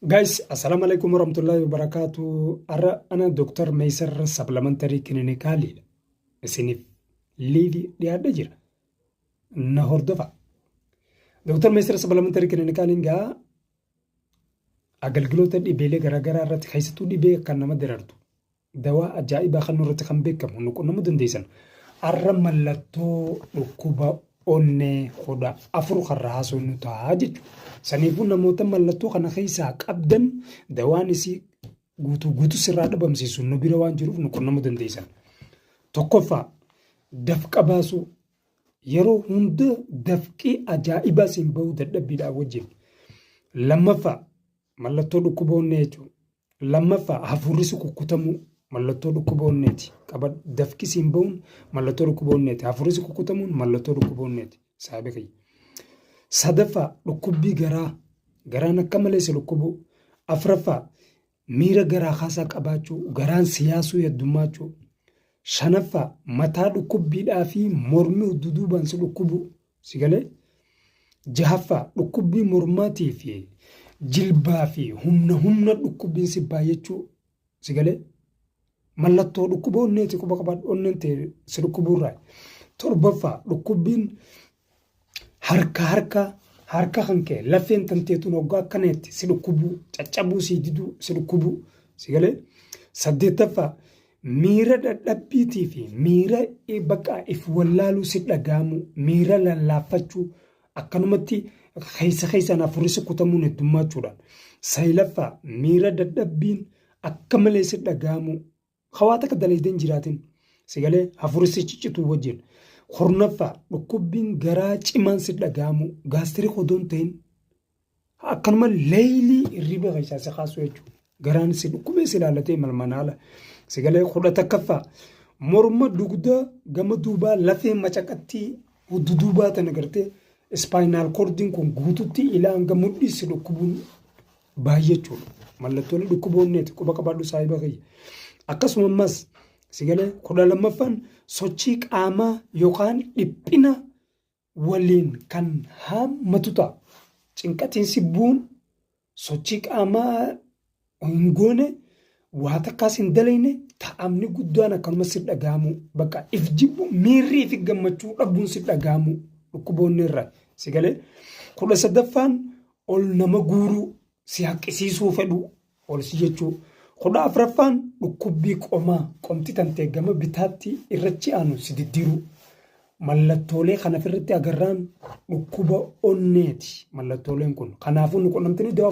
Guys, assalamu alaikum warahmatullahi wabarakatuh. Arra ana Dr. Meysar Supplementary Clinical isiniif liivi dhiyaadhe jira. Na hordofa. Dr. Meysar Supplementary Clinical egaa agalgiloota dhibeelee garaagaraa irratti keessattuu dhibee kan nama darartu Dawaa ajaa'ibaa kannuu irratti kan beekamu nu qunnamuu dandeessan. Arra mallattoo dhukkuba onnee kudha afur karra haasoo nu ta'a jechuudha. Saniifuu namoota mallattoo kana keessaa qabdan dawaan isii guutuu guutuu sirraa dhabamsiisu nu bira waan jiruuf nu qunnamuu dandeessan. Tokkoffaa dafqa baasuu yeroo hunda dafqii ajaa'ibaa siin bahuu dadhabbiidhaa wajjin. Lammaffaa mallattoo dhukkuba onnee jechuudha. Lammaffaa, hafuurri si kukkutamuu mallattoo dhukkuba onneeti. Qabadhu. Dafqi siin ba'uun mallattoo dhukkuba onneeti. Hafuurri si kukkutamuun mallattoo dhukkuba onneeti. Saahiba kiyya. Sadaffaa, dhukkubbii garaa. Garaan akka malee si dhukkubuu. Afraffaa, miira garaa kaasaa qabaachuu. Garaan si yaasuu yaddummaachuu. Shanaffaa, mataa dhukkubbiidhaa fi mormi duduubaan si dhukkubuu. Si galee? Jahaffaa dhukkubbii mormaatii fi jilbaa fi humna humna dhukkubbiin si baay'achuu si galee? Mallattoo dhukkuba onneeti quba qabaadhu onneen ta'e si dhukkubuurraa. Torbaffaa dhukkubbiin harka harka harka kan ka'e lafeen tanteetuun hoggaa akkanaatti si dhukkubuu caccabuu si diduu si dhukkubuu si galee? Saddeettaffaa Miira dadhabbiitii fi miira bakka if wallaaluu si dhaga'amu, miira lallaaffachuu, akkanumatti keessa keessaan afurri si kutamuun heddummaachuudhaan. Sayilaffaa miira dadhabbiin akka malee si dhaga'amu, hawaa takka dalaydeen jiraatin, si galee afurri si ciccituu wajjin. Kurnaffaa dhukkubbiin garaa cimaan si dhaga'amu, gaastirii odoon ta'in Akkanuma leeylii hirriba keessaa si kaasuu jechuudha. Garaan si dhukkubee si ilaalatee malmanaala. Si galee kudha takkaffaa. Morma dugda gama duubaa lafee macaqattii huddu duubaa tana gartee ispaayinaal koordiin kun guututti ilaa hanga mudhii si dhukkubuun baay'achuudha. Mallattoolee dhukkuboonneeti quba qabaadhu saahiba kiyya. Akkasuma ammas si galee kudha lammaffaan sochii qaamaa yookaan dhiphina waliin kan haammatu ta'a. Cinqatiin sibbuun sochii qaamaa hin goone waa takkaas hin dalayne ta'amni guddaan akkanuma si dhaga'amuu bakka if jibbu miirrii fi gammachuu dhabuun si dhaga'amuu dhukkuboonni irra si galee kudha sadaffaan ol nama guuruu si haqqisiisuu fedhuu ol si jechuu. 14ffaan dhukkubbii qomaa, qomti tantee gama bitaatti irrachi aanu si diddiruu. Mallattoolee kan afirratti agarraan dhukkuba onneeti mallattooleen kun. Kanaafuu nu qunnamtanii dawaa